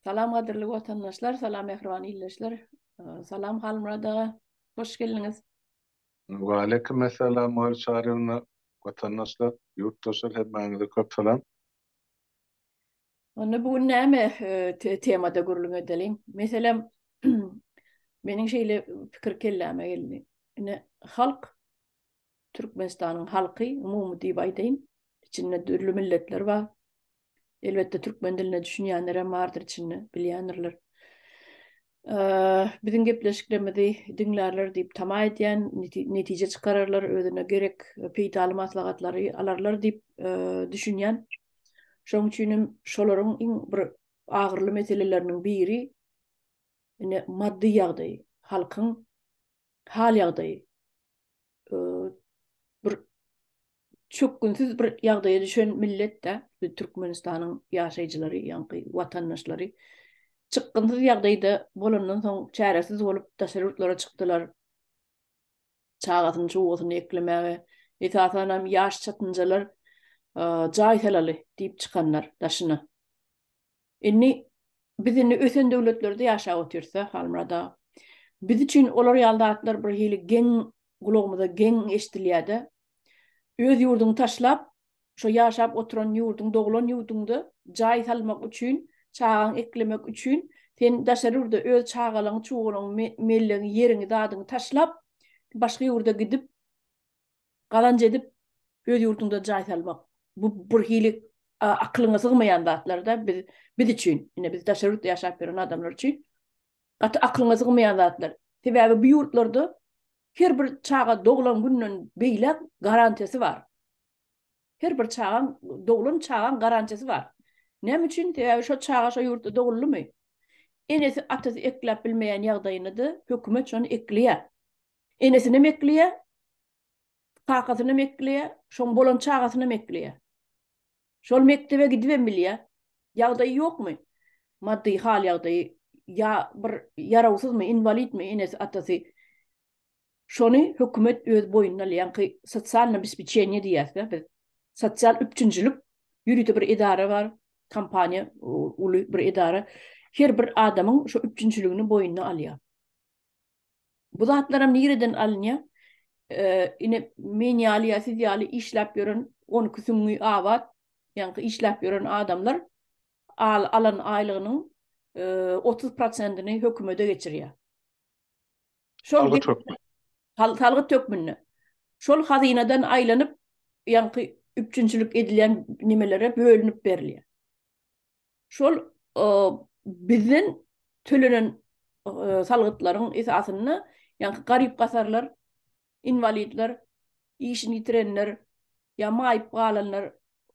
Salam gadyrly watandaşlar, salam mähriban ildeşler. Salam Halmyrat aga, hoş geldiňiz. Waleýkim essalam Maýyl Çaryýewna, watandaşlar, ýurtdaşlar hemmäňize köp salam. Onda bu gün näme temada gürrüň edeliň? Meselem, meniň şeýle pikir kelläme geldi. Ine, halk Türkmenistanyň halky, umumy diýip aýdaýyn, içinde dürli milletler bar. Elbetde türkmen diline düşünýänler hem bardyr içinde, bilýändirler. Biziň gepleşiklerimizi diňlärler diýip tama edýän, netije çykararlar, özüne gerek peýdaly maslahatlary alarlar diýip düşünýän. Şonuň üçin hem şolaryň iň bir agyrly meseleleriniň biri ine maddy ýagdaý, halkyň hal-ýagdaýy bir çökgünsiz bir ýagdaýa düşen millet-de, Türkmenistanyň ýaşaýjylary, ýaňky watandaşlary çykgynsyz ýagdaýda bolandan soň çäresiz bolup daşary ýurtlara çykdylar. Çagasyny, çugasyny eklemäge, esasan hem ýaş çatynjalar jaý salaly diýip çykanlar daşyna. Indi biz indi ösen döwletlerde ýaşap otyrsa, Halmyrat aga, biz üçin olar ýaly zatlar bir hili geň gulagymyza geň eşdilýärde. Öz ýurduňy taşlap, şo ýaşap oturan ýurduň, doglan ýurduňda jaý salmak üçin, çagaň eklemek üçin sen daşary ýurda öz çagalaň, çugalaň, mellegiň, ýeriňi, zadyňy taşlap, başga ýurda gidip, Gazanç edip öz ýurduňda jaý salmak bu bir hili akylyňa sygmaýan zatlarda biz biz üçin ine biz daşary ýurtda ýaşap ýören adamlar üçin gaty akylyňa sygmaýan zatlar. Sebäbi bu ýurtlarda her bir çaga doglan günden beýläk garantiýasy bar. Her bir çagaň doglan çagaň garantiýasy bar. Näme üçin? Sebäbi şo çaga şo ýurtda doguldymy? Enesi atasy ekläp bilmeýän ýagdaýynda-da hökümet şony ekleýär. Enesinem ekleýär, kakasynam ekleýär, şoň bolan çagasynam ekleýär. Şol mekdebe gidibem bilýär. Ýagdaýy ýokmy? Maddy hal-ýagdaýy ýa bir ýarawsyzmy, inwalidmi enesi, atasy? Şony hökümet öz boýnuna alýanky sosial nabespečeniýe diýýäs-dä biz. Sosial üpjünçilik ýörite bir edara bar, kompaniýa, uly bir edara. Her bir adamyň şo üpjünçiligini boýnuna alýar. Bu zatlaram nireden alynýa? Ine men ýaly ýa siz ýaly işläp ýören on iki süňňi abat ýaňky işläp ýören adamlar alan aýlygynyň otuz prosentini hökümede geçirýä. Şol salgyt hökmünde. Şol hazynadan aýlanyp ýaňky üpjünçilik edilýän nimelere bölünip berilýä. şol bizden tölenen salgytlaryň esasynda, ýa garyp-gasarlar, inwalidler, işini ýitirenler, ýa maýyp galanlar,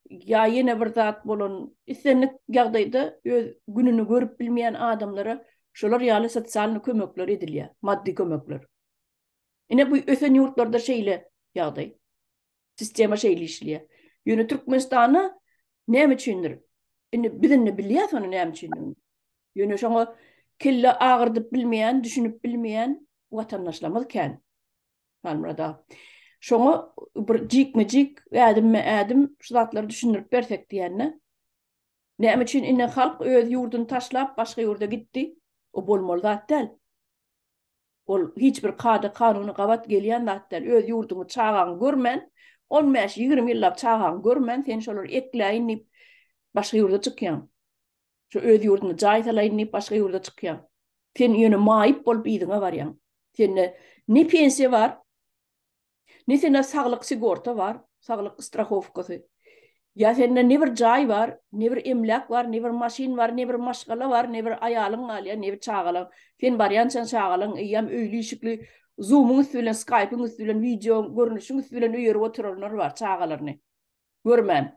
ýa ýene bir zat bolan, islendik ýagdaýda öz gününi görüp bilmeýän adamlara şolar ýaly sosialnyý kömekler edilýär, maddy kömekler. Ine, bu ösen ýurtlarda şeýle ýagdaý. Sistema şeýle işleýär. Ýöne Türkmenistanda näme üçindir? Indi biz indi bilýäs ony näme üçindigini. Ýöne şoňa kelle agyrdyp bilmeýän, düşünip bilmeýän watandaşlarymyz kän. Halmyrat aga. Şoňa bir jikme-jik, ädimme-ädim şu zatlary düşündirip bersek diýende. Näme üçin indi halk öz ýurduny taşlap başga ýurda gitdi? O bolmaly zat däl. Ol hiç bir kada-kanuny gabat gelýän zat däl. Öz ýurduňy, çagaňy görmän, on bäş, ýigrimi ýyllap çagaňy görmän, sen şolary ekläýin diýip, başga ýurda çykýaň. Şu öz ýurdunda jaý salaýyn diýip, başga ýurda çykýaň. Sen ýöne maýyp bolup yzyňa barýaň. Sende ne pensiýa bar. Ne sende saglyk sigorta bar, saglyk strahowkasy. Ýa sende ne bir jaý bar, ne bir emläk bar, ne bir maşyn bar, ne bir maşgala bar, ne bir aýalyň galýar, ne bir çagalaň. Sen barýançaň çagalaň eýýäm öýli-işikli, Zoom-yň üsti bilen, Skype-yň üsti bilen, wideo görnüşiň üsti bilen öýerip oturanlar bar çagalaryny görmän.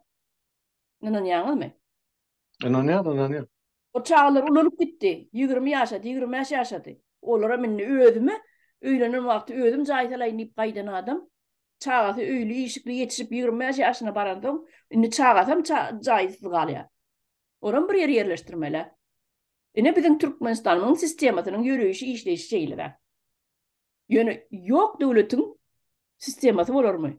Ynanýaňyzmy? Ynanýan, ynanýan. O çagalar ulalyp gitdi. Ýigrimi ýaşady, ýigrimi bäş ýaşady. Olaram indi özüme öýlenen wagty özüm jaý salaýyn diýip gaýdan adam. Çagasy öýli, işikli ýetişip ýigrimi bäş ýaşyna baransoň, indi çagasam jaýsyz galýar. Olam bir ýere ýerleşdirmeli-ä. Ine biziň Türkmenistanymyň sistemasynyň ýöreýşi, işleýşi şeýle-dä. Ýöne ýok döwletiň sistemasy bolarmy?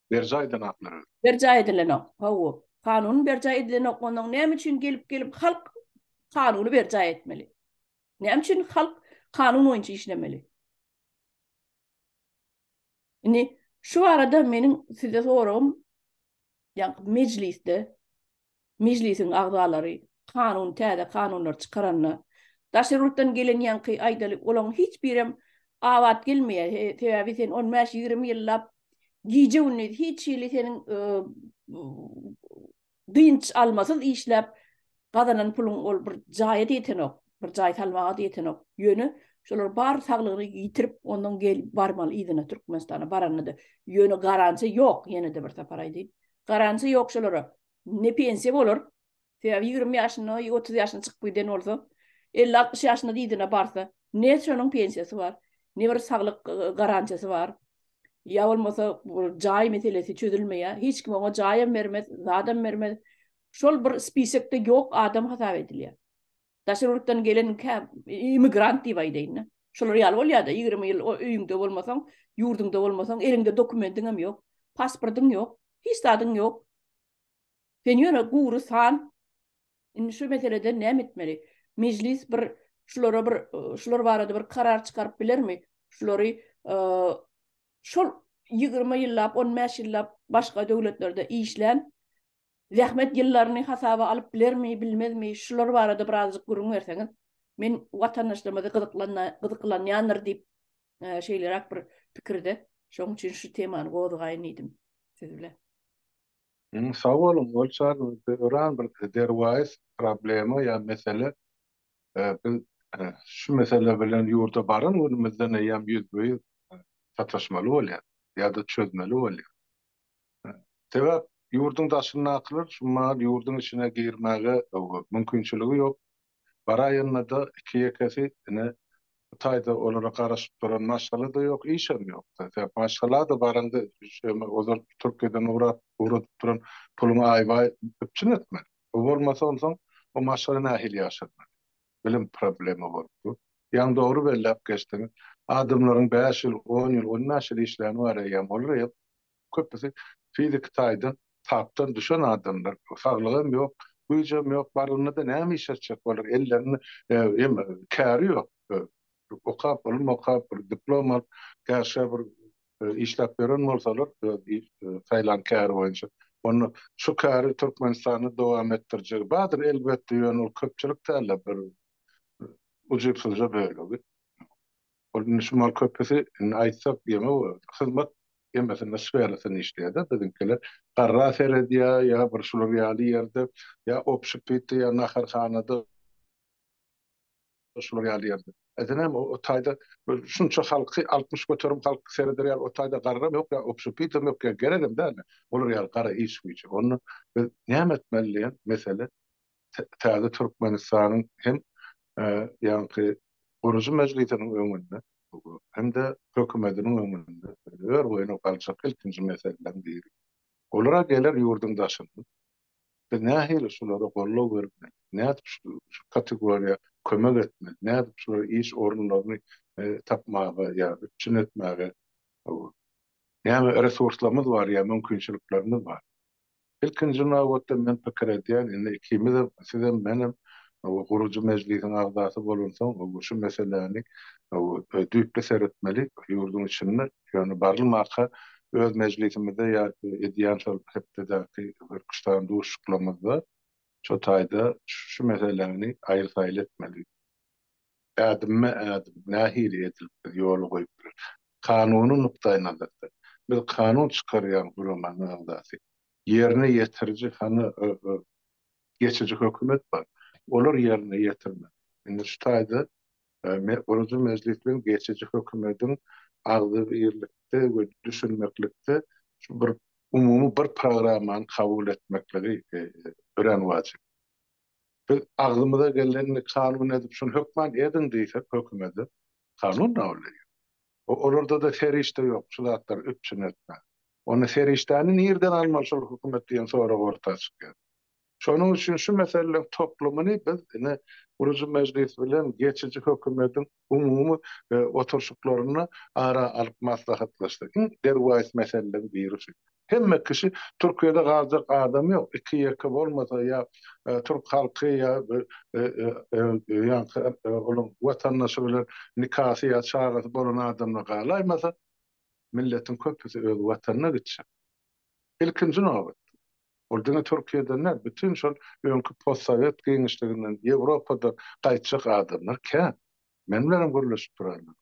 Berjaý edilenoklar öl. Berjaý edilenok. Hawa. Kanun berjaý edilenok. Ondan näme üçin gelip gelip halk kanuny berjaý etmeli? Näme üçin halk kanun boýunça işlemeli? Indi şu arada meniň size soragym, ýa mejlisde Mejlisiň agzalary kanun täze kanunlar çykaranda daş ýurtdan gelen ýaňky aýdaly olaň hiç birem abat gelmeýä sebäbi sen on bäş ýigrimi ýyllap gije gündiz hiç hili seniň dynç almasyz işläp gazanan puluň ol bir jaýa ýetenok bir jaý salmaga da ýetenok ýöne şolar bar saglygyny ýitirip ondan gel barmaly yzyna türkmenistana baranda da ýöne garantiýa ýok ýene de bir sapar aýdaýyn Garantiýa ýok şolara. Ne pensiýa bolar. Sebäbi ýigrimi ýaşynda, otuz ýaşyna çykyp giden bolsa, elli-altmyş ýaşyna yzyna barsa, ne şonuň pensiýasy bar, ne bir saglyk garantiýasy bar. Ýa bolmasa bir jaý meselesi çözülmeýär. Hiç kim oňa jaýam bermez, zadam bermez. Şol bir spisekde ýok adam hasap edilýär. Daşary ýurtdan gelen immigrant diýip aýdaýyn-da. Şolar ýaly bolýar-da, ýigrimi ýyl o öýüňde bolmasaň, ýurduňda bolmasaň, eliňde dokumentiň hem ýok, pasportyň ýok, hiç zadyň ýok. Sen ýöne gury san. Indi şu meselede näme etmeli? Mejlis bir şulara bir şular barada bir karar çykaryp bilermi? Şulary şol ýigrimi ýyllap, on bäş ýyllap başga döwletlerde işlän Zähmet ýyllaryny hasaba alyp bilermi, bilmezmi, şular barada birazjyk gürrüň berseňiz, men watandaşlarymyzy gyzyklanýandyr diýip, şeýleräk bir pikirde, şoň üçin şu temany gozgaýyn diýdim siz bilen. Sag boluň, ol çagymyzda öran bir derwaýys problema ýa mesele, biz şu mesele bilen ýurda baran günümizden eýýäm ýüzbe-ýüz sataşmaly bolýarys ýa-da çözmeli bolýarys. Sebäp ýurduň daşyndakylar şu maal ýurduň içine girmäge mümkinçiligi ýok. Baraýanda-da iki-ýekesi ine Hytaýda olara garaşyp duran maşgala-da ýok, işem ýok-da. Sebäp maşgala-da baraňda şeýme ozal Türkiýeden ugrap, ugradyp duran puluňy aýbaý üpjün etmeli. Bu bolmasa onsoň o maşgala nähili ýaşarmaly? bilim problema bolup dur. Ýaňy dogry belläp geçdiň. Adamlaryň bäş ýyl, on ýyl, ondan şir işläni bar eýýäm. Olar hem köpüsi fiziki taýdan tapdan düşen adamlar. Saglygy hem ýok, güýji hem ýok. Barlygyna-da näme iş etjek olar? Ellerinde hem käri ýok. Okap, ylym okap, bir diplom alyp, käşgä bir işläp ýören bolsalar öz saýlan käri boýunça onda şu käri Türkmenistanda dowam etdirjegi bardyr elbetde ýöne ol köpçülik dälde bir ujypsyzja bölegi ol indi şu mal köpüsi indi aýtsak ýene hyzmat ýemesinde sferasynda işleýärde biziňkiler garra seredýär ýa bir şular ýaly ýerde ýa obşpitde ýa naharhanada Ol şular ýaly ýerde. Edenem o taýda bir şunça halky altmyş göterim halk sereder ýaly o taýda garram ýok ýa obşepitowam ýok ýa geregem däldi. Olar ýaly gara iş güýje. Onda biz näme etmeli diýen mesele täze Türkmenistanyň hem ýaňky gurujy mejlisiniň öňünde hem-de hökümetiniň öňünde örboýuna galjak ilkinji meseleleriň biri. Olara geler ýurduň daşyndan Biz nähili şulara goldaw bermeli? Nädip şu kategoriýa kömek etmeli? Nädip şulara iş orunlaryny tapmaga ýa üpjün etmäge näme resurslarymyz bar ýa mümkinçiliklerimiz bar? Ilkinji nobatda men pikir edýän, indi ikimizem, sizem, menem gurujy mejlisiň agzasy bolansoň, şu meseläni düýpli seretmeli ýurduň içinde. Ýöne barylmaka öz mejlisimizde ýa edýän şol hepdedäki Hürküstan duşuşyklarymyzda şo taýda şu meseläni aýyl-saýyl etmeli. Ädimme-ädim nähili edilip biz ýola goýup bileris? Kanuny nukdaýnazardan, biz kanun çykarýan guramanyň agzasy. Ýerine ýetiriji hany geçiji hökümet bar. Olar ýerine ýetirmeli. Indi şu taýda Gurujy Mejlisiň geçiji hökümetiň agzybirlikde we düşünmeklikde şu bir umumy bir programmany kabul etmekligi örän wajyp. Biz agzymyza gelenini kanun edip şuny hökman ediň diýsek hökümete, kanun kabul edýär. Olarda-da serişde ýok şu zatlary üpjün etmäge. Onda serişdäni nirden almaly şol hökümet diýen sorag orta çykýar. Şonuň üçin şu meseleleriň toplumyny biz ine gurujy mejlis bilen geçiji hökümetiň umumy oturşyklarynda ara alyp maslahatlaşdyk. Iň derwaýys meseleleriň biri şu. Hemme kişi Türkiýede galjak adam ýok. Iki-ýeke bolmasa ýa türk halky ýa ýaňky olaň watandaşy bilen nikasy ýa çagasy bolan adamlar galaýmasa, milletiň köpüsi öz watanyna gitjek. Ilkinji nobatda, ol diňe Türkiýeden däl, bütin şol öňki postsowet giňişliginden, Ýewropada gaýtjak adamlar kän. Men bilenem gürleşip duranlar.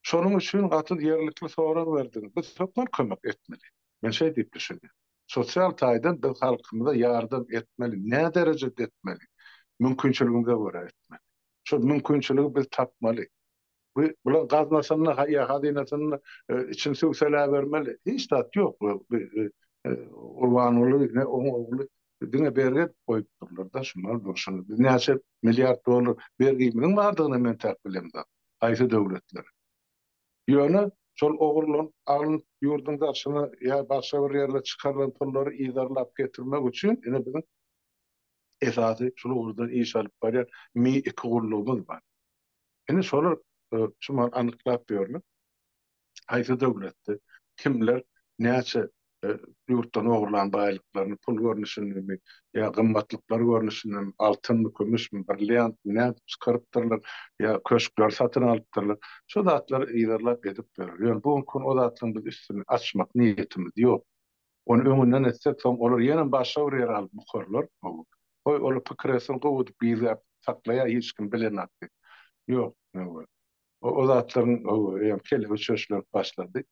Şonuň üçin gaty ýerlikli sorag berdiň. Biz hökman kömek etmeli. Men şeý diýip düşünýän. Sosial taýdan biz halkymyza ýardam etmeli. Nä derejede etmeli? Mümkinçiligimize görä etmeli. Şol mümkinçiligi biz tapmaly. Bu bulaň gaznasynda ýa hazynasynda içini süwseläbermeli. Hiç zat ýok. Gurbanguly ne oň ogly diňe bergi edip goýupdyrlar-da şular bilen şular. Biz näçe milliard dollar bergimiziň bardygyny men täk bilemzok. Haýsy döwletlere. Ýöne şol ogurlan alyn ýurduň daşyna ýa başga bir ýerlere çykarylan pullary yzarlap getirmek üçin ine biziň esasy şul ugurdan iş alyp barýan Mi iki gullugymyz bar. Ine, şolar şu mahaly anyklap ýörler. Haýsy döwletde kimler näçe ýurtdan ogurlan baýlyklaryny, pul görnüşindemi ýa gymmatlyklar görnüşindemi, altynmy, kümüşmi, brilliantmy, nädip çykarypdyrlar ýa köşkleri satyn alypdyrlar, şu zatlary yzarlap edip ýörler. Ýöne bu günki gün o zatlaryň biz üstüni açmak niýetimiz ýok. Ony öňünden etsek, soň olar ýene başga bir ýere alyp bukarlar. Hawa. Goý, olar pikir etsin, gowudyp gizläp saklaýar, hiç kim bilenok diýip. Ýok. Hawa. O zatlaryň, hawa, eýýäm kelegi çöşlänip başlady.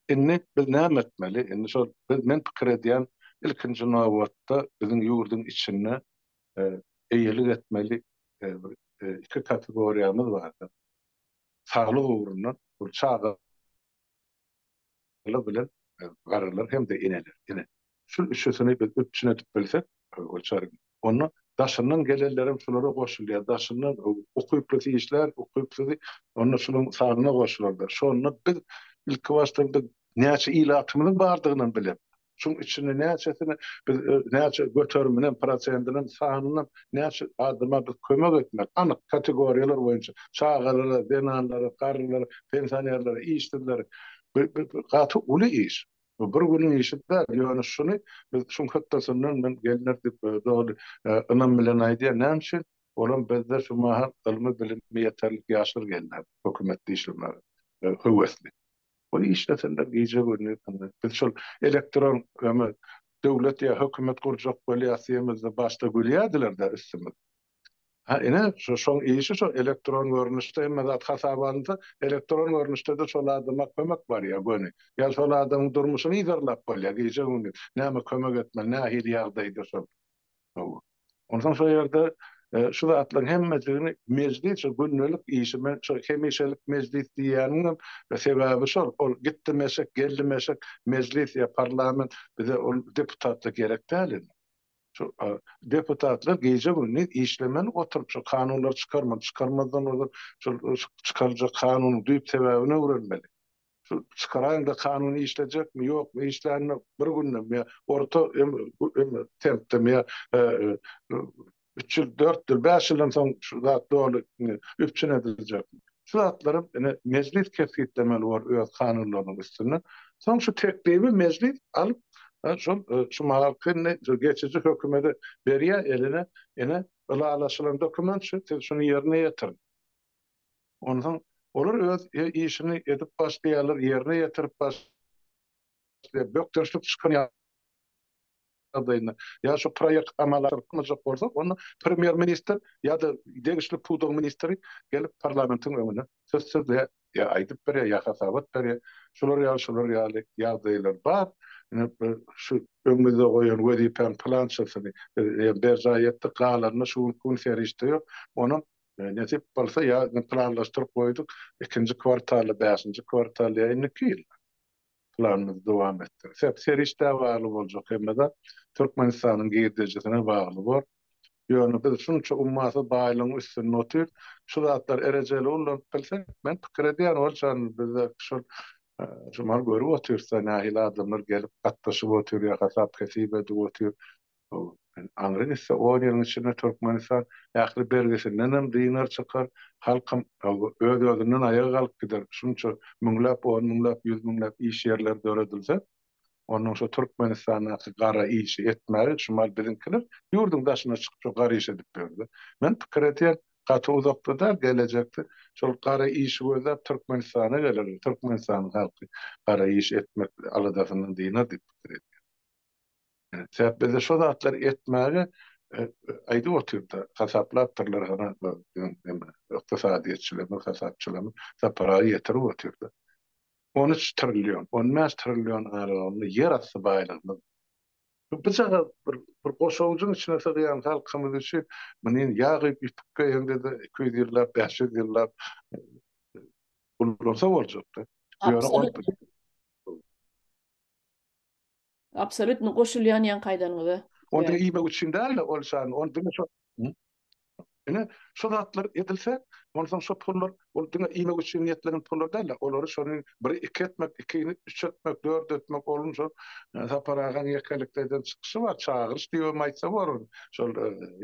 Indi biz näme etmeli? Indi şol biz, men pikir edýän, ilkinji nobatda biziň ýurduň içinde eýelik etmeli bir iki kategoriýamyz bardyr. Saglyk ugrundan, bu çaga. Gyz bilen garrylar hem-de eneler. Ine, şul üçüsini biz üpjün edip bilsek, Gülçary, onda daşyndan gelenlerem şulara goşulýar. Daşyndan ukyplysy işlär, ukypsyzy onda şularyň sanyna goşular-da. Şonda biz ilkibaşda bir näçe ilatymyzyň bardygynam bilemok. Şuň içinde näçesini biz näçe göteriminem, prosentinem, sanynam näçe adama biz kömek etmeli, anyk kategoriýalar boýunça, çagalara, zenanlara, garrylara, pensionerlere, işsizlere, bu gaty uly iş. Bu bir günüň işi däl, ýöne şuny biz şuň hötdesinden men gelinler diýip doly ynam bilen aýdýan. Näme üçin? Olam bizde şu mahal ylmy bilimi ýeterlik ýaşlar gelýär hökümetde işlemäge höwesli. Ol işleseler gije gündüz dymdy. Biz şol elektron öme döwlet ýa hökümet gurjak bolýas diýemizde başda gülýädiler-de üstümiz. Ha ine şo şoň işi şo elektron görnüşde hemme zat hasaba alynsa elektron görnüşde-de şol adama kömek barýa göni. Ýa şol adamyň durmuşyny yzarlap bolýa gije gündüz näme kömek etmeli nähili ýagdaýda şol. Hawa. Onsoň şo ýerde şu zatlaryň hemmesini mejlis şu gündelik işi men şo hemişelik mejlis diýýänimem sebäbi şol. Ol gitdim eşek, geldim eşek mejlis ýa parlament bize ol deputatlyk gerek däl indi. Şu deputatlar gije-gündiz işlemeli oturyp şu kanunlary çykarmaly, çykarmazdan ozal şol çykaryljak kanunyň düýp sebäbini öwrenmeli. Şu çykaraýyňda kanun işlejekmi ýokmy işlänini bir günde mi orta tempde mi üç ýyl dört ýyl bäş ýyldan soň şu zat doly üpjün ediljekmi şu zatlary ine mejlis kesgitlemeli bor öz kanunlarynyň üstünde soň şu teklibi mejlis alyp şol şu mahalkyny şu geçiji hökümede berýär eline ine ylalaşylan dokument şu siz şuny ýerine ýetiriň. Onsoň olar öz işini edip başlaýarlar, ýerine ýetirip başlaýarlar, bökdençlik çykan ýagdaýynda ýa şu proýekt amala aşyrylmajak bolsa, onda premýer-ministr ýa-da degişli pudagyň ministri gelip parlamentiň öňüne söz sözleýär, ýa aýdyp berýär, ýa hasabat berýär. Şular ýaly, şular ýaly ýagdaýlar bar. Ine, şu öňümizde goýan wezipäň pylançasyny berjaý etdik, galanyny şu günki gün serişde ýok, onuň Nesip bolsa ýa indi planlaşdyryp goýduk, ikinji kwartalda, bäşinji kwartalda ýa indiki ýyl planymyzy dowam etdiris. Hep serişdä bagly boljak hemme zat. Türkmenistanyň girdejisine bagly bor. Ýöne biz şunça ummasyz baýlygyň üstünde otyrys. Şu zatlar erejeli ullanyp bilse, men pikir edýän ol çan bizde şol şu maly görüp otyrys-da nähili adamlar gelip gatnaşyp otyr ýa hasap-hesip edip otyr. Bu aňry gitse on ýylyň içinde Türkmenistan ähli bergisindenem dynar çykar, halkam öz-özünden aýaga galyp gider. Şunça müňläp, on müňläp, ýüz müňläp iş ýerleri döredilse, onnoň şo Türkmenistandaky gara işi etmäge şumal biziňkiler ýurduň daşyna çykyp şo gara iş edip ýörler. Men pikir edýän gaty uzakda däl gelejekde şol gara işi gözläp Türkmenistana gelerler, Türkmenistanyň halky gara iş etmek aladasyndan dynar diýip pikir edýän. Sebäp bizde şo zatlary etmäge aýdyp otyr-da, hasaplapdyrlar hany neme, ykdysadyýetçilerimiz, hasapçylarymyz da paragy ýetirip otyr-da. On üç trillion, on bäş trillion aralygynda ýer asty baýlygymyz. Bu bujagaz bir goşawujyň içine sygýan halkymyz üçin muny ýag guýup ýüpük geýende-de iki ýüz ýyllap, bäş ýüz ýyllap gullansa boljak-da. Bu ýere goýup. Absolutno goşulýan ýaňky aýdanyňyza. Ony diňe iýmek üçin däl-de ol şan, ony diňe şo Ine, şo zatlar edilse, onsoň şo pullar ol diňe iýmek üçin niýetlenen pullar däl-de, olary şony biri iki etmek, ikini üç etmek, dört etmek, onuň şo Sapar agaň ýekelikde eden çykyşy bar, çagyryş diýibem aýtsa bolar, şol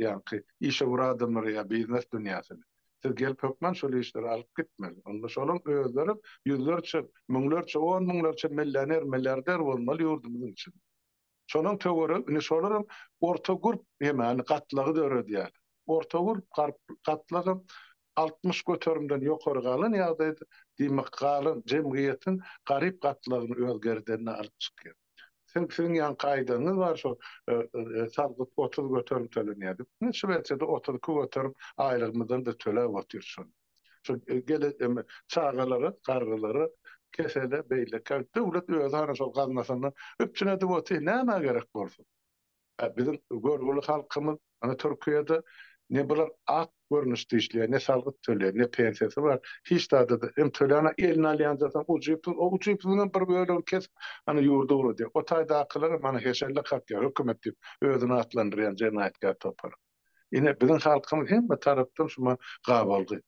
ýaňky işewür adamlary ýa biznes dünýäsini. Siz gelip hökman şol işleri alyp gitmeli. Onda şolaň özleri ýüzlerçe, müňlerçe, on müňlerçe mellioner, milliarder bolmaly ýurdumyz üçin. Şolaň töweregi, indi şolaram orta gurp ýemany gatlagy döredýärler. Orta gurp garp gatlagam altmyş göterimden ýokary galan ýagdaýda, diýmek, galan jemgyýetiň garyp gatlagyny öz gerdenine alyp çykýar. Sen siziň ýanky aýdanyňyz bar şo salgyt otuz göterim tölenýär diýip. Ine Şwesiýada otuz iki göterim aýlygymyzdan-da töläp otyr şony. Şu gele eme çagalara, garrylara, kesele, beýlekä döwlet özi hany şol gaznasyndan üpjün edip otyr, nämä gerek bolsun? Biziň görgüli halkymyz ony Türkiýede ne bular ak görnüşde işleýär, ne salgyt töleýär, ne pensiýasy bar. Hiç zady da hem töläni eline alýanda soň ujypsyz, o ujypsyzyň hem bir bölegini kesip, ana ýurda ugradýar. O taýdakylar hem ana heşelle kakýar, hökümet diýip özüni atlandyrýan jenaýatkär topar. Ine biziň halkymyz hemme tarapdan şuma gabalgy.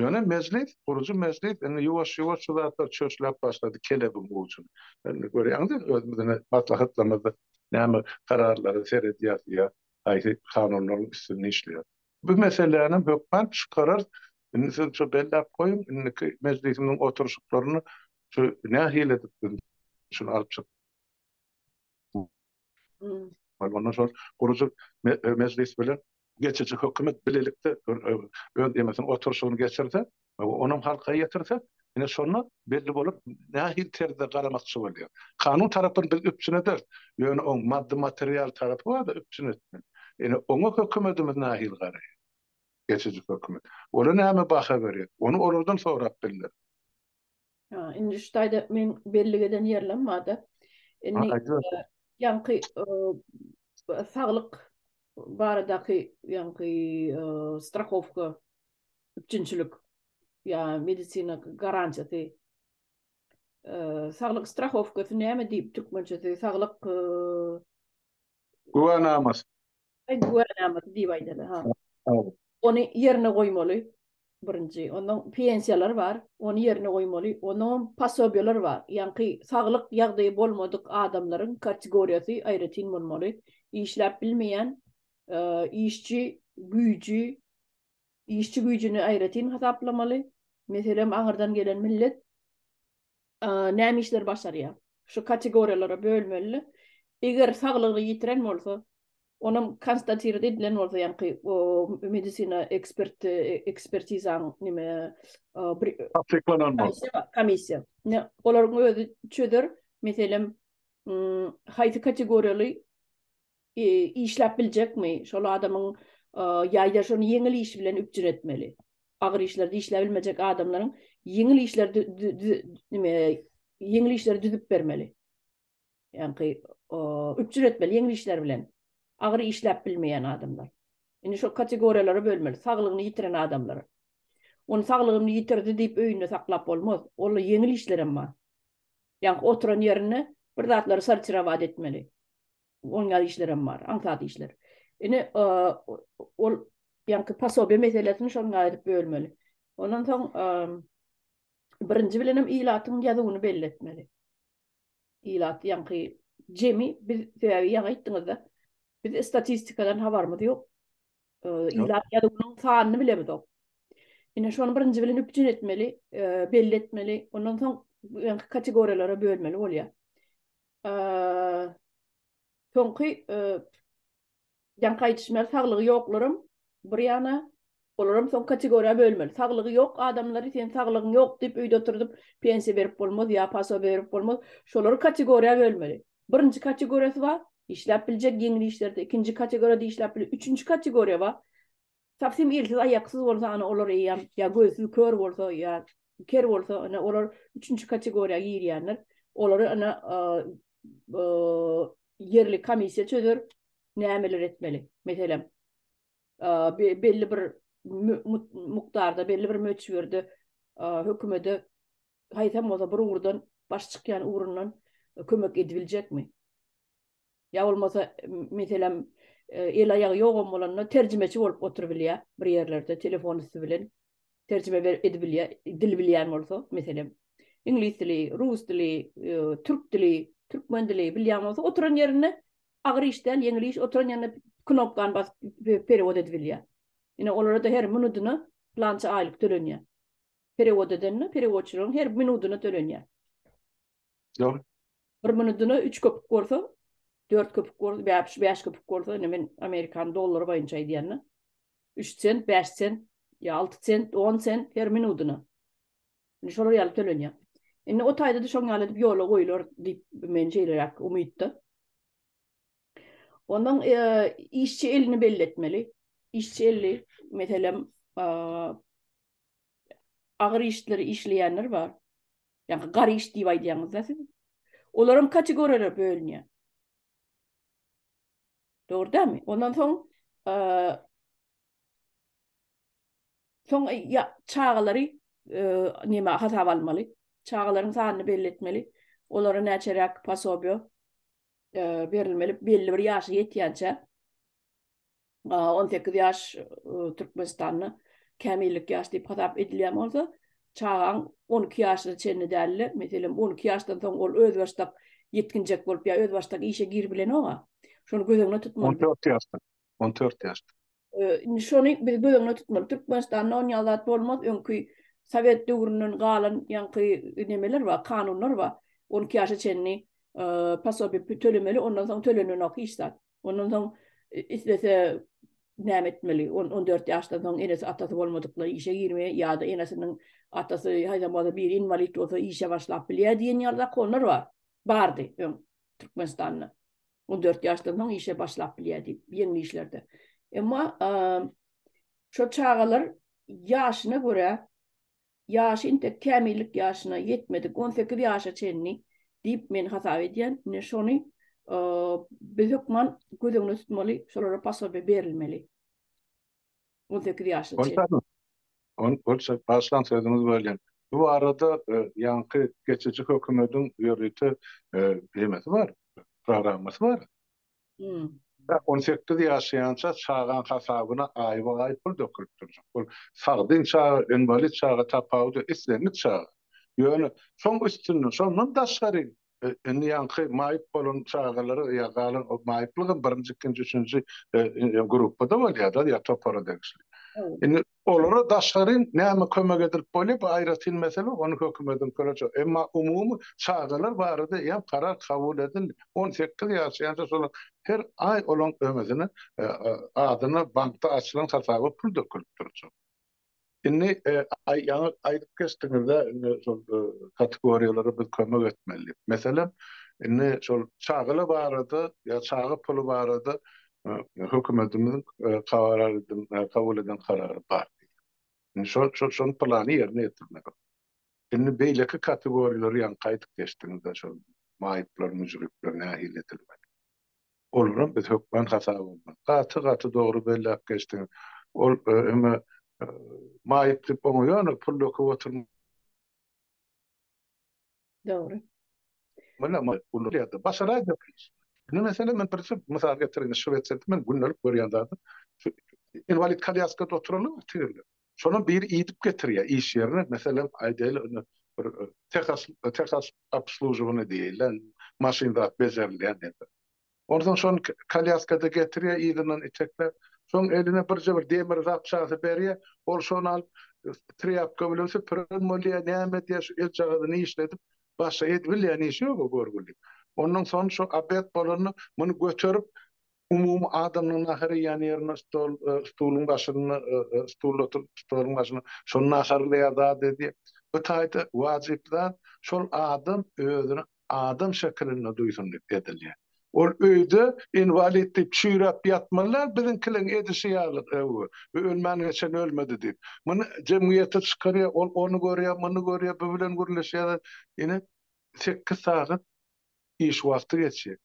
Ýöne mejlis, gurujy mejlis indi ýuwaş-ýuwaş şu zatlar çöşläp başlady kelebigiň ujyny. Indi görýäňiz indi özümiziň maslahatlarymyzda näme kararlara seredýäris ýa haýsy kanunlaryň üstünde işleýäris. Bu meselänem hökman çykararys. Indi siz şu belläp goýuň, indiki mejlisimiziň oturyşyklaryny şu nähili edip biz şuny alyp çyk. Ondan soň gurujy mejlis bilen geçiji hökümet bilelikde öz emesini oturyşyny geçirse, onam halka ýetirse, ine şonda belli bolar nähili terzde garamakçy bolýar. Kanun tarapyn biz üpjün ederis, ýöne oň maddy material tarapy barda üpjün etmeli. Ine oňa hökümetimiz nähili garaýar? Geçiji hökümet. Ola näme baha berýär? Ony olardan sorap bilmeris. Ha, indi şu taýda men bellik eden ýerlem barda. Indi ýaňky saglyk baradaky ýaňky strahowka üpjünçilik ýa medisina garantiýasy saglyk strahowkasy näme diýip türkmençesi saglyk güwänamasy Güwänamady diýip aýdaly, ha. Ony ýerine goýmaly, birinji. Ondan pensiýalar bar, ony ýerine goýmaly. Ondanam posobiýalar bar. Ýaňky saglyk ýagdaýy bolmadyk adamlaryň kategoriýasy aýratyn bolmaly. Işläp bilmeýän işçi güýji, işçi güýjüni aýratyn hasaplamaly. Meselem, aňyrdan gelen millet näme işleri başarýar? Şu kategoriýalara bölmeli. Eger saglygyny ýitiren bolsa, onam konstatirat edilen bolsa, ýaňky medisina eksperti, ekspertizaň näme, bir tassyklanan bolsa, komissiýa. Olaryň özi çözer, meselem, haýsy kategoriýaly Işläp biljekmi? Şol adamyň ýa-da şony ýeňil iş bilen üpjün etmeli. Agyr işlerde işläp bilmejek adamlaryň ýeňil işleri nime, ýeňil işleri düzüp bermeli. Ýaňky üpjün etmeli ýeňil işler bilen. Agyr işläp bilmeýän adamlar. Indi şol kategoriýalara bölmeli. Saglygyny ýitiren adamlar. Ony saglygyny ýitirdi diýip öýünde saklap bolmaz. Onda ýeňil işler hem bar. Ýaňky oturan ýerinde bir zatlary sortirowat etmeli. Oňýar işlerem bar, aňsat işler. Ine, ol ýaňky pasobiýa meselesini şonuň aýryp bölmeli. Ondan soň birinji bilenem ilatyň ýazuwyny belli etmeli. Ilat ýaňky jemi biz sebäbi ýaňy aýtdyňyzda biz statistikadan habarymyz ýok. Ilat ýazuwynyň sanyny bilemizok. Ine şony birinji bilen üpjün etmeli, belli etmeli. Ondan soň ýaňky kategoriýalara bölmeli bolýar. Soňky ýaňky aýdyşymyň saglygy ýoklaram bir ýana olaram soň kategoriýa bölmeli. Saglygy ýok adamlary sen saglygyň ýok diýip öýde oturdyp pensiýa berip bolmaz ýa paso berip bolmaz. Şolary kategoriýa bölmeli. Birinji kategoriýasy bar, işläp biljek ýeňil işlerde, ikinji kategoriýada işläp biljek, üçünji kategoriýa bar. Tapsym elsiz aýaksyz bolsa ana olar eýýäm ýa gözsüz kör bolsa ýa ker bolsa ana olar üçünji kategoriýa girýänler olary ana ýerli komissiýa çözer nämeler etmeli meselem belli bir mukdarda belli bir möçberde hökümede haýsam bolsa bir ugurdan baş çykýan ugrundan kömek edibiljekmi Ýa bolmasa, meselem, el-aýagy ýogam bolanda terjimeçi bolup oturybilýär bir ýerlerde, telefon üsti bilen terjime edibilýär, dil bilýän bolsa, meselem, iňlis dili, rus dili, türk dili, türkmen dili bilýän bolsa, oturan ýerinde agyr iş däl, ýeňil iş, oturan ýerinde knopkany basyp perewod edibilýär. Ine, olara-da her minudyna plança aýlyk tölenýär. Perewod edende, perewodçylaryň her minudyna tölenýär. Ýok. Bir minudyna üç köpük bolsa, dört köpük bolsa, bäş, bäş köpük bolsa, indi men amerikan dollary boýunça aýdýan-da. Üç sent, bäş sent, ýa alty sent, on sent her minudyna. Indi şolar ýaly tölenýär. Indi o taýda-da şoň ýaly edip ýola goýular diýip, men şeýleräk umytda. Ondan işçi elini belli etmeli. Işçi eli, meselem, agyr işleri işleýänler bar. Ýa-da garyş diýip aýdýaňyz-da siz. Olaram kategoriýalara bölünýär. Dogry dämi? Ondan soň soň ýa çagalary näme hasaba almaly? Çagalaryň sanyny belli etmeli. Olara näçeräk pasobiýa berilmeli belli bir ýaşa ýetýänçä. on sekiz ýaş Türkmenistanda kämillik ýaş diýip hasap edilýän bolsa, çagaň on iki ýaşyna çenli dälde, meselem, on iki ýaşdan soň ol özbaşdak ýetginjek bolup ýa özbaşdak işe giribilenok-a. Şony göz öňüne tutmaly. On dört ýaşdan. On dört ýaşdan. Indi şony biz göz öňüne tutmaly. Türkmenistanda onýaly zat bolmaz. Öňki sowet döwründen galan ýaňky nemeler bar, kanunlar bar. On iki ýaşa çenli posobiýa tölemeli, ondan soň tölenenok hiç zat. Ondan soň islese näme etmeli? 14 ýaşdan soň enesi atasy bolmadyklar işe girmeli ýa-da enesiniň atasy haýsam bolsa biri inwalid bolsa işe başlap bilýär diýen ýaly zakonlar bar. Bardy öň Türkmenistanda. 14 ýaşdan soň işe başlap bilýär diýip ýeňil işlerde. Emma şo çagalar ýaşyna görä Ýaşy intek kämillik ýaşyna ýetmedik on sekiz ýaşa çenli diýip men hasap edýän. Ine şony biz hökman göz öňünde tutmaly, şolara posobiýe berilmeli. On sekiz ýaşa çenli. Ol başlan sözüňiz welin, bu barada ýaňky geçiji hökümediň ýörite nemesi bar, programmasy bar. On sekiz ýaşaýança çagaň hasabyna aýba-aý pul dökülip durjak. Ol sagdyn çaga, inwalid çaga tapawudy islendik çaga. Ýöne şoň üstünde, şondan daşgary indi ýaňky maýyp bolan çagalara ýa galan maýyplygam birinji, ikinji, üçünji gruppada bolýar-da ýa topara degişli. Indi Olara daşary näme kömek edilip bolýar, bu aýratyn mesele, ony hökümediň köleje. Emma umumy çagalar barada eýýäm karar kabul edildi. On sekiz ýaşaýança şolar her aý olaň öňüsine adyna bankda açylan hasaba pul dökülip durjak. Indi ýaňy aýdyp geçdiňizde indi şol kategoriýalara biz kömek etmeli diýip. Meselem, indi şol çagalar barada ýa çaga puly barada Hökümetimiziň kabul eden karary bar. Indi şol, şol, şonuň plany ýerine ýetirilmeli. Indi beýleki kategoriýalary ýaňky aýdyp geçdiňiz-de, şol maýyplar, müjrikler nähili edilmeli? Olaram biz hökman hasap almaly. Gaty, gaty dogry belläp geçdiňiz. Ol hem-ä maýyp diýip oňa ýöne pul döküp oturmaly. Dogry. Mena ma uly ýerde başara ýapyş. Indi mesele men bir çyp mysal getireyim. Şwetsiýada men gündelik görýän zadym. Inwalid kalýaskada oturaly bir tigirler. Şolam biri iýdip getirýär iş ýerine. Meselem aýdaýly indi bir tehas tehas obslužowany diýilýän maşyn zat bejerilýän ýerde. Onsoň şony kolýaskada getirýär, yzyndan itekläp. Soň eline birje bir demir zapçasy berýär. Ol şony alyp, trýapka bilen süpüren bolýar, näme edýär, şu eljagazy nişledip, başga edibilýän işi ýok o görgüliň. Ondan soň şo obed bolanda, muny göterip, umumy adamlaryň nahar iýýän ýerine, stol, stuluň başynda, stulda oturyp, stoluň başynda şony naharlaýar, zat edýär. Bu taýda wajyp zat, şol adam özüne adam şekilinde duýsun diýip edilýär. Ol öýde inwalid diýip çüýräp ýatmalylar, biziňkiliň edişi ýaly öw, bu ölmän geçen ölmedi diýip. Muny jemgyýete çykarýar, ol ony görýär, muny görýär, bu bilen gürleşýär, ine, sekiz sagat iş wagty geçýär.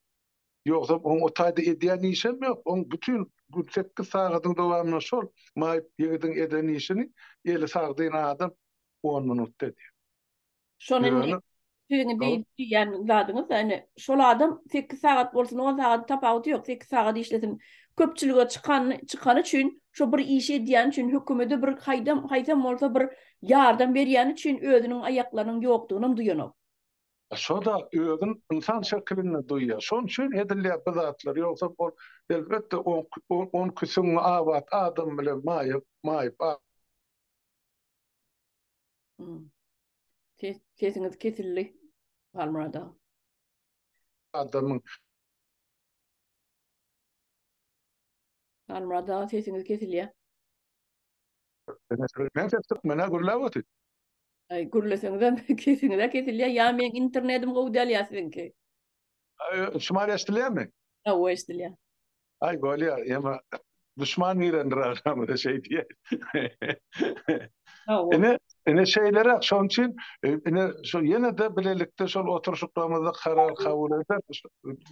Ýogsam oň o taýda edýän işem ýok, oň bütin gün sekiz sagadyň dowamynda şol maýyp ýigidiň eden işini eli sagdyn adam on minutda edýär. Şony indi siziň diýýän zadyňyz da indi şol adam sekiz sagat bolsun, on sagat tapawudy ýok, sekiz sagat işlesin. Köpçülige çykan, çykany üçin, şo bir işi edýäni üçin, hökümede bir haýdam, haýsam bolsa bir ýardam berýäni üçin özüniň aýaklarynyň ýokdugynam duýanok. Şo-da özün ynsan şekilinde duýýar. Şonuň üçin edilýär bu zatlar. Ýogsa ol elbetde on, on küsüň abat adam bilen maýyp, maýyp. Ses sesiňiz kesildi. Halmurada. Adamyň Halmurada sesiňiz kesilýär. Men ses tutmana gürläp otyr. Ay gürleseňizem kesinize kesilýär. Ya men internetim gowy däl ýa siziňki. Şumal eşdilýärmi? Hawa, eşdilýär. Aý, bolýar, emma duşman girendir agramyza şeý diýer. Hawa. Ine, ine şeýleräk, şonuň üçin e, ine şu ýene-de bilelikde şol oturşyklarymyzda karar kabul etsek,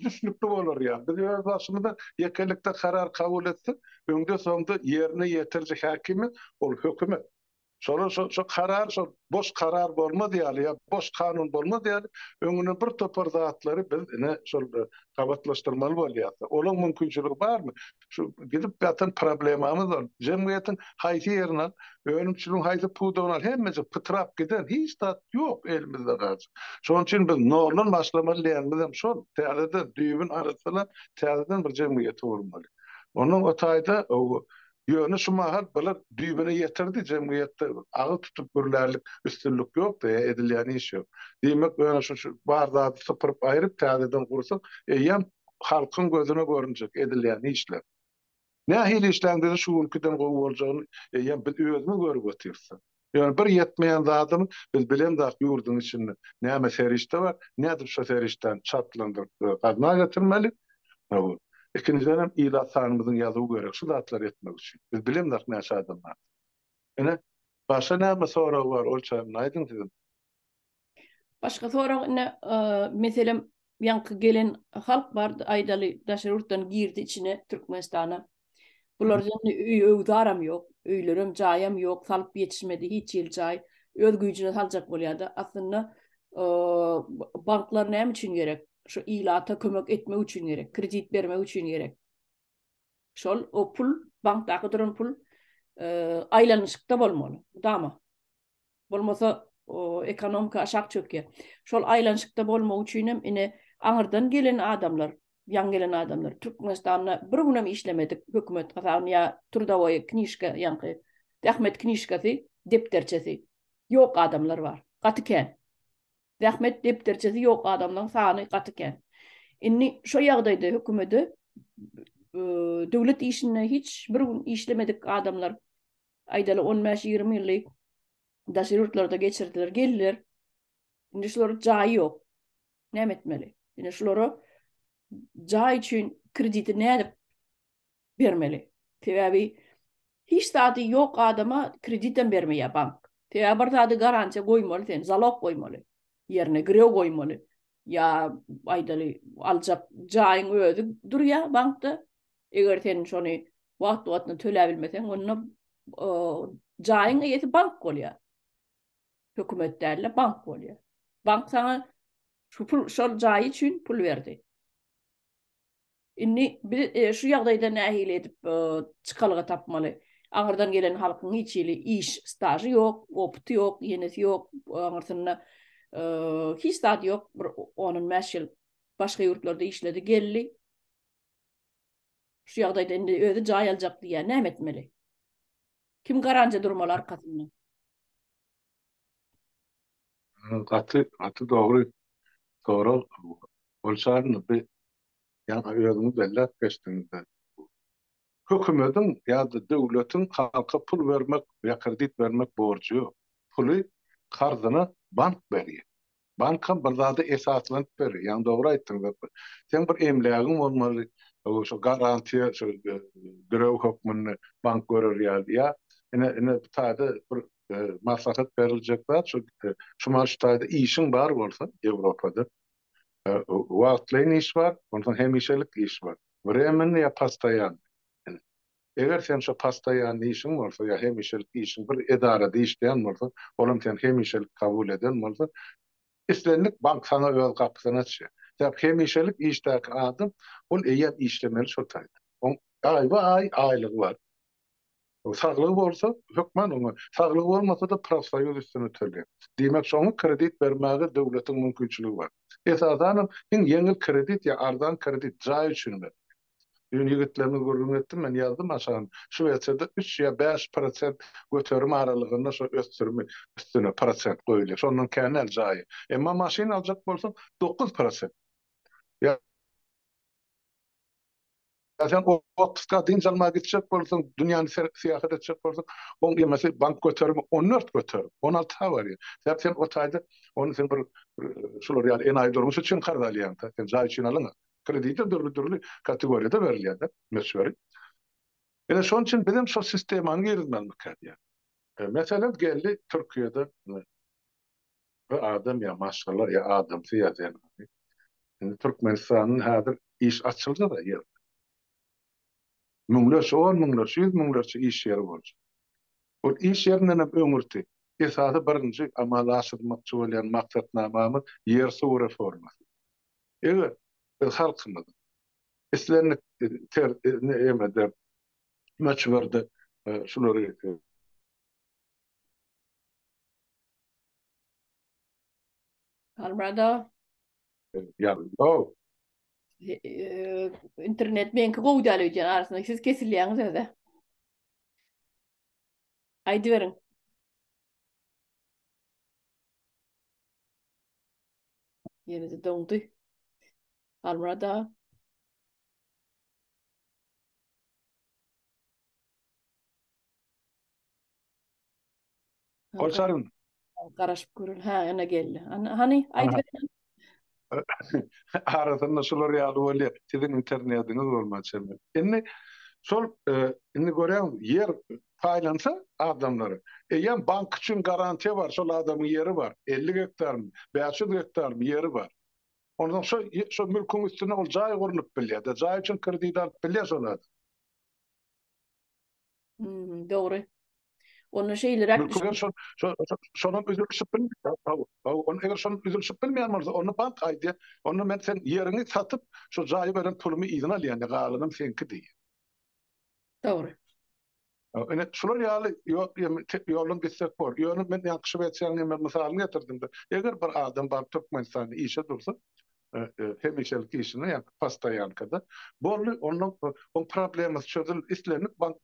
düşnükli bolar ýa. Biz öz başymyza ýekelikde karar kabul etsek, öňde-soňda ýerine ýetiriji häkimi ol hökümet. Şolar şo şo karar şo boş karar bolmaz ýaly ýa boş kanun bolmaz ýaly öňüne bir topar zatlary biz ine şol gabatlaşdyrmaly bolýas. Olaň mümkinçiligi barmy? Şu gidip ýatan problemamyz bar. Jemgyýetiň haýsy ýerini al, önümçiligiň haýsy pudagyny al, hemmejik pytrap giden, hiç zat ýok elimizde galjak. Şonuň üçin biz noldan başlamaly diýenimiz hem şol. Täzeden düýbüni arassalap, täzeden bir jemgyýeti gurmaly. Onnoň o taýda Ýöne şu mahal bular düýbüne ýetirdi, jemgyýetde agyz tutup gürlärlik üstünlik ýokdy, edilýän iş ýok. Diýmek, ýöne şu bar zady sypyryp aýryp täzeden gursak, eýýäm halkyň gözüne görünjek edilýän işler. Nähili işläň bize şu günkiden gowy boljagyny eýýäm biz özümiz görüp otyrsda. Ýöne bir ýetmeýän zadymyz, biz bilemzok ýurduň içinde näme serişde bar, nädip şo serişdäni çaltlandyryp we gazna getirmeli. Howwa. Ikinjidenem ilat sanymyzyň ýazuwy gerek şu zatlary etmek üçin. Biz bilemzok näçe adam bardygyny. Ine, başga näme sorag bar, ol çägini aýdyň sizem. Başga sorag ine meselem ýaňky gelen halk bar aýdaly daşary ýurtdan girdi içine Türkmenistana. Bularda indi öý öwzaram ýok, öýlerem jaýam ýok, salyp ýetişmedi hiç ýyl jaý. Öz güýjüne saljak bolýada. Aslynda banklar näme üçin gerek? Şu ilata kömek etmek üçin gerek, kredit bermek üçin gerek. Şol o pul bankdaky duran pul aýlanyşykda bolmaly. Mydama. Bolmasa, ekonomika aşak çökýär. Şol aýlanyşykda bolmak üçinem ine, aňyrdan gelen adamlar, ýaňy gelen adamlar, Türkmenistanda bir günem işlemedik hökümet hasabyna ýa trudowoýa knižka, ýaňky zähmet knižkasy, depderçesi ýok adamlar bar. Gaty kän. Zähmet depderçesi ýok adamlaň sany gaty kän. Indi şo ýagdaýda hökümede döwlet işinde hiç bir gün işlemedik adamlar aýdaly on bäş ýigrimi ýyly daşary ýurtlarda geçirdiler geldiler. Indi şulara jaýy ýok. Näme etmeli? Indi şulara jaý üçin krediti nädip bermeli. Sebäbi hiç zady ýok adama kreditem bermeýär bank. Sebäbi bir zady garantiýa goýmaly sen, zalog goýmaly, ýerine girew goýmaly. Ýa aýdaly aljak jaýyň özi durýar bankda. Eger sen şony wagt-wagtynda töläp bilmeseň, onda jaýyň eýesi bank bolýar. Hökümet däl-de, bank bolýar. Bank saňa şu pul, şol jaý üçin pul berdi. Indi biz şu ýagdaýda nähili edip çykalga tapmaly? Aňyrdan gelen halkyň hiç hili iş stažy ýok, opyty ýok, ýenesi ýok, aňyrsynda hiç zat ýok. Bir 10-15 ýyl başga ýurtlarda işledi, geldi. Şu ýagdaýda indi özi jaý aljak diýýär, näme etmeli? Kim garanja durmaly arkasynda? Gaty gaty dogry sorag ol çagyny bi ýa-da özüňiz belläp geçdiňizde hökümediň ýa-da döwletiň halka pul bermek ýa kredit bermek borjy ýok puly karzyna bank berýär Bankam bir zada esaslanyp berer. Ýaňy dogry aýtdyň Zepar. Seň bir emlägiň bolmaly, şo garantiýa şo girew hökmünde bank görer ýaly. Ýa ine, ine bu taýda bir maslahat beriljek zat şu, şuman şu taýda işiň bar bolsa Ýewropada, wagtlaýyn iş bar, onsoň hemişelik iş bar, wremennyý ýa postoýannyý. Eger sen şo postoýanny işiň bolsa ýa hemişelik işiň bir edarada işleýän bolsaň, olam seni hemişelik kabul eden bolsa, islendik bank saňa öz gapysyny açýar. Sebäp hemişelik işdäki adam, ol eýýäm işlemeli şo taýda. Oň aýba-aý aýlygy bar. Saglygy bolsa, hökman oňa, saglygy bolmasa-da profsoýuz üstüne tölýär. Diýmek, şoňa kredit bermäge döwletiň mümkinçiligi bar. Esasanam, iň ýeňil kredit ýa arzan kredit jaý üçin berilýär. Düýn ýigitlerimiz gürrüň etdi, men ýazdym aşagynda. Şu WC-de üç ýa bäş prosent göterim aralygynda şo ösdürimi üstüne prosent goýulýar. Şondan kän däl jaýy. Emma maşyn aljak bolsaň, dokuz prosent. Ýa sen otpuska, dynç almaga gitjek bolsaň, dünýäni serip syýahat etjek bolsaň, oň ýemesi bank göterimi on dört göterim, on alty ha barýar. Sebäp sen o taýda ony sen bir şular ýaly enaýy durmuş üçin karz alýaň-da. Sen jaý üçin alyňa. Kredite dürli-dürli kategoriýada berilýär-de möçberi. Ine, şonuň üçin biz hem şol sistemany girizmelidik kädýär. Meselem, geldi Türkiýede bir adam ýa maşgala, ýa adamsy, ýa zenany. Indi Türkmenistanda häzir iş açyldy-da ýer. Müňlerçe, on müňlerçe, ýüz müňlerçe iş ýeri boljak. Ol iş ýerinden hem öňürti esasy birinji amala aşyrylmakçy bolýan maksatnamamyz ýersuw reformasy. Eger biz halkymyz islendik emede möçberde şulary Albrado. Internet meňki gowy däl öýdýän arasynda siz kesilýäňiz öze. Aýdyberiň. Ýene-de doňdy. Halmyrat aga. Goçaryn. Garaşyp görün. Ha, ana geldi. Ana, hani, aýdyber. Arasynda şular ýaly bolýar. Siziň internetiňiz bolmaýar çemeli. Indi şol, e, indi görýäňiz, ýer paýlansa adamlara, eýýäm bank üçin garantiýa bar, şol adamyň ýeri bar, elli gektarmy, bäş ýüz gektarmy ýeri bar. Onsoň şo, şo mülküň üstüne ol jaý gurlup bilýär-de, jaý üçin kredit alyp bilýär şol adam. Hum, dogry. Onda şeýleräk Mülki bilen şo, şo, şo- şonuň üzülişip bilmeýär. Hawa, hawa, on eger şonuň üzülişip bilmeýän bolsa, onda bank aýdýar, onda men sen ýeriňi satyp, şo jaýy beren pulumy yzyna alýan, galanam seňki diýýär. Dogry. Ine şular ýaly ýok ýolun gitsek bor. Ýöne men ýakşy wersýany hem mysalyny getirdimde. Eger bir adam bar Türkmenistanda işe dursa, hemişelik işine ýa postoýankada boldy, onda oň problemasy çözüldi, islendik bank.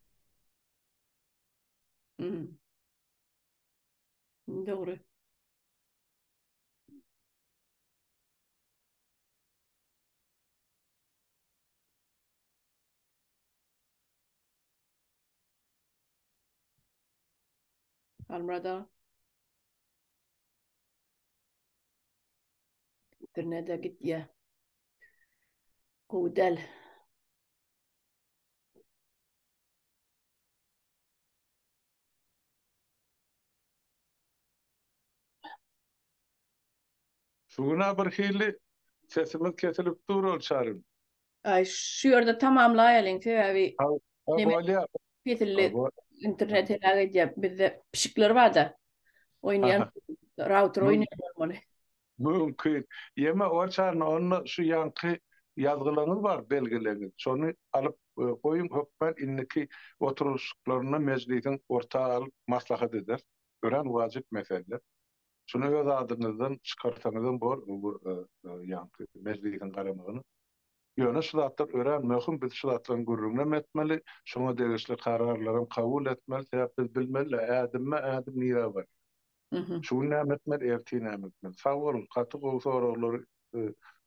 Dogry. Halmurad aga. Birine-de gitýär. Gowy däl. Şu güna bir hili sesimiz kesilip dur ol çarym. Aý şu ýerde tamamlaýalyň sebäbi bolýa kesildi internet heläk edýär bizde pişikler barda oýnaýan rauter oýnaýan bolmaly. Mümkin. Ýeme oçany onda şu ýanky ýazgylaňyz bar belgileňiz. Şony alyp goýuň hökman indiki oturylyşyklarynda mejlisiň orta alyp maslahat ederis. Örän wajyp mesele. Şuny öz adyňyzdan çykarsaňyzam bor bu ýanky mejlisiň garamagyna. Ýöne şu zatlar örän möhüm biz şu zatlaryň gürrüňinem etmeli, şoňa degişli kararlaram kabul etmeli sebäp biz bilmeli-ä ädimme ädim nirä barýar. Şu gün näme etmeli, ertir näme etmeli? Sag boluň, gaty gowy soraglary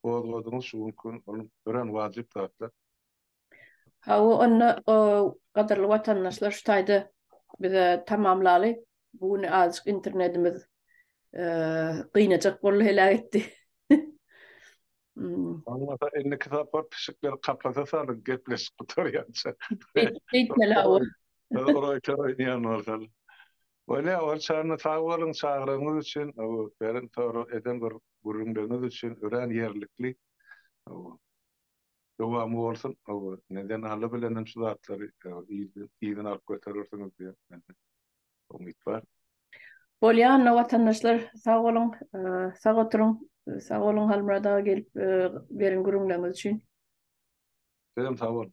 gozgadyňyz şu günki gün, ol örän wajyp zatlar. Hawa, onda gadyrly watandaşlar şu taýda bize tamamlaly. Bu gün azajyk internetimiz gynajak boldy, heläk etdi. Bolmasa indiki sapar pişikleri kapasa salyň, gepleşik gutarýança. Beýtmeli, hawa. Ýa ýanwarsalar. Bolýa ol çagna sag boluň çagyrygyňyz üçin beren sorag eden bir gürrüňleriňiz üçin örän ýerlikli dowamy bolsun neden Alla bilenem şu zatlary yzyna alyp göterersiňiz diýen mende umyt bar. Bolýa onda watandaşlar sag boluň sag oturyň sag boluň Halmyrat aga gelip beren gürrüňleriňiz üçin. Sizem sag boluň.